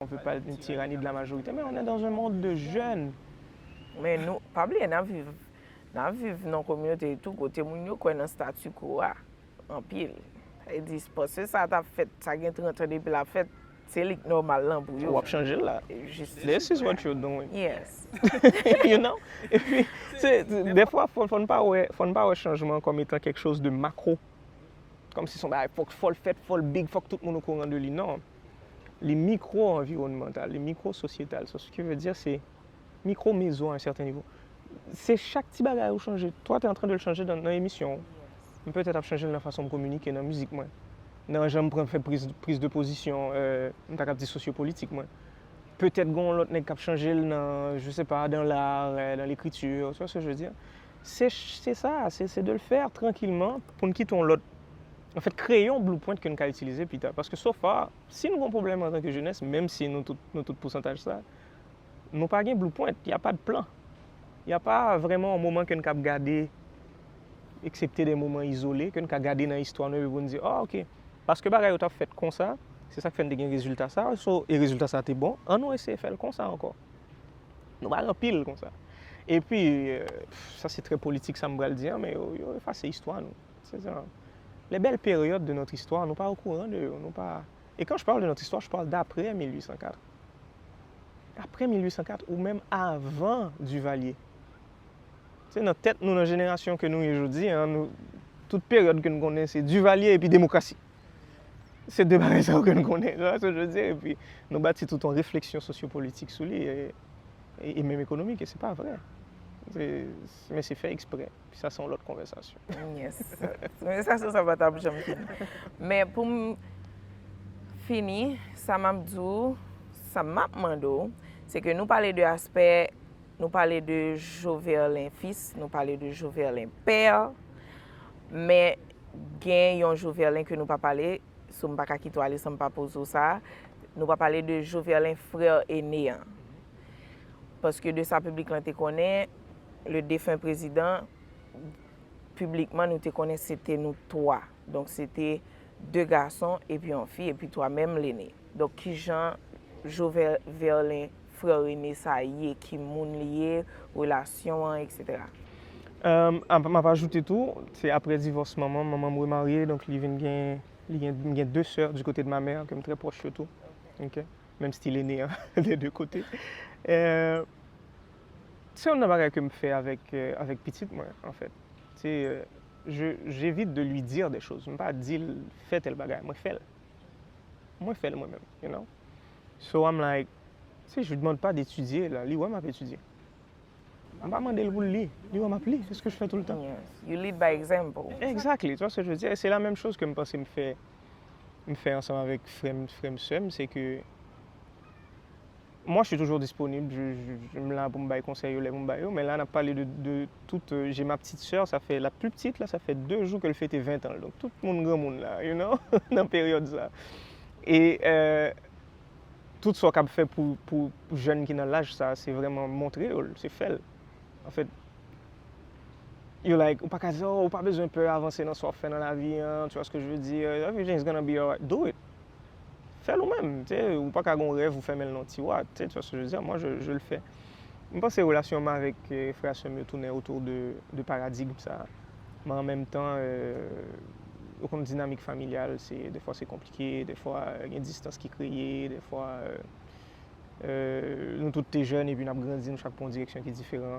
On veut pas d'une tyrannie de la majorité mais on est dans un monde de jeunes. Men nou pa bliye n ap viv n ap viv nan kominote itou kote moun yo kwè nan statu quo a anpil. Sa vle di panse sa ta fèt sa gen 30 an depi l ap fèt se li k nòmal lan pou yo. Ou ap chanje l la. This is what you're doing. Yes. You know? E pi se dèfwa fò n pa wè fò n pa wè chanjman an kòm etan kèk choz de makro. Kòm si s on bagay fò l fèt fò l big fòk tout moun okouran de li. Non. li mikwo-anviwònmantal, li mikwo-sosyetal. Sa ki vle di se mikwo-mezo a yon sèten nivo. Se chak ti bagay ou chanje. Twa te antran de l chanje nan emisyon ou. M petèt ap chanje l nan fason m kominike, nan mizik mwen. Nan jan m pran fè priz de pozisyon, m ta kab di sosyopolitik mwen. Petèt gen yon lòt nèg k ap chanje l nan, je se pa, dan lar, dan lekriti. Ou wè sa je vle di? Se sa, se de l fè trankilman pou n kite yon lòt. Anfèt, kreye yon blueprint ke n ka itilize pita. Paske so far, si nou gen yon pwoblèm antanke jenès, menm si nou tout, nou tout pousantaj sa, nou pa gen blueprint, y a pa de plan. Y a pa vrèman yon moman ke n kab gade, eksepte de moman izole, ke n ka gade nan istwa nou epi pou n di, oh ok, paske bagay yo t ap fèt konsa, se sa k fè n te gen rezilta sa a, so, e rezilta sa a te bon, annou eseye fè l konsa ankò. Nou pa gen pil konsa. Epi, sa se trè politik sa m pral di an, men yo efase istwa nou. Se sa. Les belles périodes de notre histoire, nou pa okouran de yo, nou pa E quand je parle de notre histoire, je parle d'après 1804. Aprè 1804 ou menm avan Duvalier. Se nan tèt nou, nan jenerasyon ke nou ye jodi a, nou, tout peryòd ke nou konnen se Duvalier epi demokrasi. Se de bagay sa yo ke nou konnen. Nou wè sa je veux dire? Epi nou bati tout yon refleksyon sosyopolitik sou li e menm ekonomik e se pa vre. Se, men se fè eksprè. Sa se yon lòt konvèsasyon. Yes. Konvèsasyon sa pa tap janm fini. Men pou m fini, sa m ap di w, sa m ap mande w, se ke nou pale de aspè, nou pale de Joverlein fils, nou pale de Joverlein père, men gen yon Joverlein ke nou pa pale, so m pa ka kite w ale san m pa poze w sa, nou pa pale de Joverlein frère aîné an. Paske de sa piblik lan te konnen, le defen prezidan, piblikman nou te konnen se te nou 3. Donk se te 2 gason epi yon fi, epi 3 menm Lene. Donk ki jan Jovel Verlin, frè Rene sa ye, ki moun li ye, relasyon an, eksetera. M ap ajoute tou, se apre divòs manman m, manman m remarye, donk li vin gen, li gen 2 sè di kote de ma mère ke m trè pwòch yo tou. Menm stil Ene an de 2 kote. Se yon nan bagay ke m fè avèk pitit mwen anfèt. Se j'evite de lui dire des choses. M pa di l fè tèl bagay. Mwen fè l. Mwen fè l mwen menm. You know? So I'm like, tu sais, je lui demande pas d'étudier là. Li wè m ap etidye. M pa mande l pou l li. Li wè m ap li. Se ske je fè tout le temps. You lead by example. Exactly. Tu vois ce que je veux dire? Et c'est la même chose ke m panse m fè. m fè ansanm avèk frè m, frè m, sè m, se ke mwa je suis toujours disponible, je, m la pou m bay konsèy yo lè pou m bay yo, men la n ap pale de, de tout, je ma petite soeur, sa fè, la pli ptit la, sa fè 2 jou ke l fete 20 tan l, donk tout moun granmoun la, you know, nan peryòd sa. E, tout sa w kab fè pou, pou jèn ki nan laj sa, se vrèman montre yo l, se fè l. An fèt, yo like, ou pa ka di, oh, ou pa bezwen pè avanse nan sa w ap fè nan lavi an, tu vois ce que je veux dire, everything is gonna be alright, do it. Fè l ou menm, tu sais, ou pa ka gen yon rèv ou fèmen l nan yon tiwa, tu sais, tu vois ce que je veux dire, moi je, je le fais. M panse relasyon m avèk frè a sè m yo tounen autour de, de paradigme sa a. Men an menm tan, ou konn dinamik familyal, se, dèfwa se konplike, dèfwa gen distans ki kreye, dèfwa. Nou tout te jèn epi n ap grandi, nou chak pran yon direksyon ki diferan.